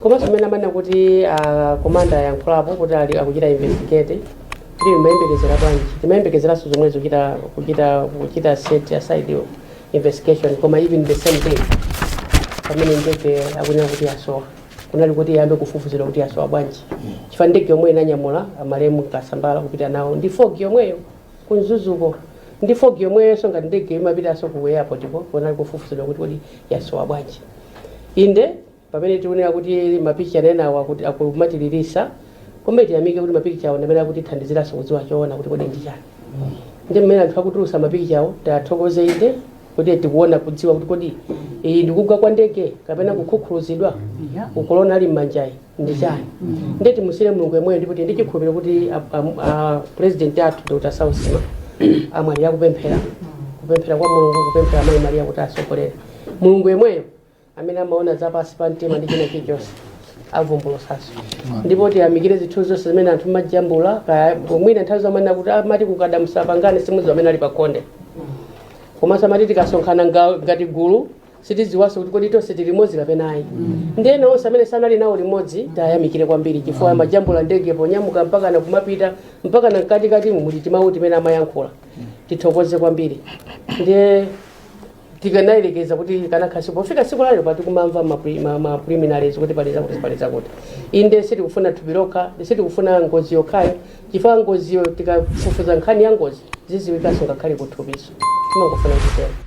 Komanso mmene amanena kuti a Komanda ayankhulapo kuti ali akuchita investigate kuti timayembekezera bwanji timayembekezeranso zomwezo kuchita kuchita kuchita set aside investigation koma even the same day pamene ndege akunena kuti yasowa kunali kuti iyambe kufufuzidwa kuti yasowa bwanji chifukwa ndege yomwe inanyamula amalemu kasambala kupita nawo ndi fog yomweyo ku Mzuzuko ndi fog yomweyonso ngati ndege imapitanso ku airport ko kunali kufufuzidwa kuti kodi yasowa bwanji inde Pamene tikunena kuti ma picture enawa kuti akumatililisa koma tiyamike kuti ma picture awa ndamene akutithandizilaso kudziwa choona kuti kodi ndichani nde mmene anthu akutulusa ma picture awo tiathokoze inde kuti tikuona kudziwa kuti kodi iyi ndikugwa kwa ndege kapena kukhukhuluzidwa ku corona ali mmanjayi ndichani nde timusiire mulungu yemweyo ndipo tili ndi chikhulupiro kuti a- a- a- president athu dr saulos chilima amwalira kupemphera kupemphera kwa mulungu kupemphera mayi maria kuti asogolere mulungu yemweyo amene amaona za pansi pa mtima ndi china chilichonse avumbulusanso ndipo tiyamikire zinthu zonse zimene anthu amajambula kaya mwina nthawi zina amanena kuti amati kukada musapangane simudziwa amene ali pakhonde komanso amati tikasonkhana nga- ngati gulu sitidziwanso kuti kodi tonse tili limodzi kapena ayi ndi ena onse amene sanali nawo limodzi tiyamikire kwambiri chifukwa amajambula ndege ponyamuka mpakana kumapita mpakana mkatikati muli timawu timene amayankhula tithokoze kwambiri ndiye tikanayerekeza kuti kanakhaso pofika siku lalero pa tikumamva ma pre- ma- ma preliminaries kuti pali zakuti pali zakuti inde sitikufuna thupi lokha ndi sitikufuna ngozi yokhayo chifukwa ngoziyo tikafufuza nkhani ya ngozi ziziwikanso ngakhale kuthupiso timangofuna kutero